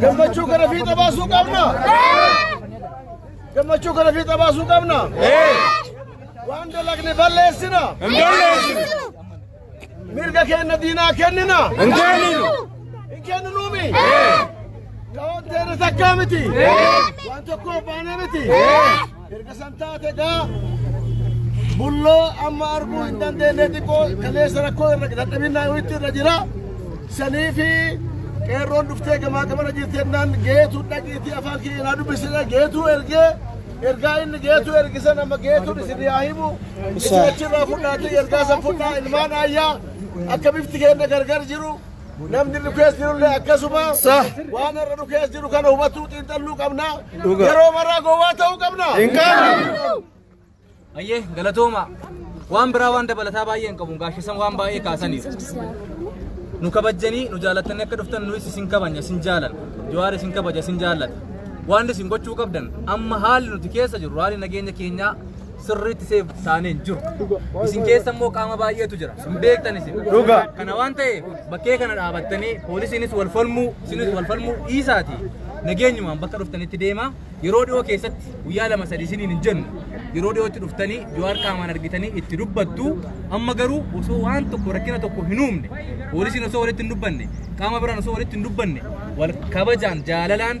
Gammachuu kana fiixa baasuu qabna. Gammachuu kana fiixa baasuu qabna. Waan dalagne balleessina. Mirga keenya diinaa kennina. Hin kenninuumi. Kaawwanteerri takkaa miti. Waan tokkoof baanee miti. Erga san taate egaa bulloo amma arguu hin dandeenye xiqqoo kaleessa rakkoo irra dadhabinaa wayiitti irra jira. Sanii fi qeerroon dhuftee gamaa gamana jirti jennaan geetu dhaqiiti afaan kee naa dubbisina geetu ergee ergaa inni geetu ergisan amma geetuun isin yaa himu isin achirraa fudhaatee ergaa san fudhaa ilmaan ayyaa akka bifti keenya gargar jiru. Namni nu keessa jirullee akkasuma waan irra nu keessa jiru kana hubachuu xiinxalluu qabna. Yeroo maraa gowwaa ta'uu qabna. Hin qabnu. Ayyee galatooma waan biraa waan dabalataa baay'ee hin qabu gaashisan waan baay'ee kaasaniif. Nu kabajjanii nu jaallattanii akka dhuftan nuyi isin kabajna isin jaallan jawaar isin kabaja isin jaallata. Waan isin gochuu qabdan amma haalli nuti keessa jirru haalli nageenya keenyaa sirriitti seef taanee hin jiru. Isin keessa immoo qaama baay'eetu jira. Hin beektan isin. Dhugaa. Kana waan ta'eef bakkee kana dhaabattanii poolisiinis wal falmuu, isinis wal falmuu dhiisaati. Nageenyumaan bakka dhuftanitti deema. Yeroo dhiyoo keessatti guyyaa lama sadii isiniin hin jennu. Yeroo dhiyootti dhuftanii Jawaar qaamaan argitanii itti dubbattu. Amma garuu osoo waan tokko rakkina tokko hin uumne, poolisiin osoo walitti hin dubbanne, qaama biraan osoo walitti hin dubbanne, wal kabajaan jaalalaan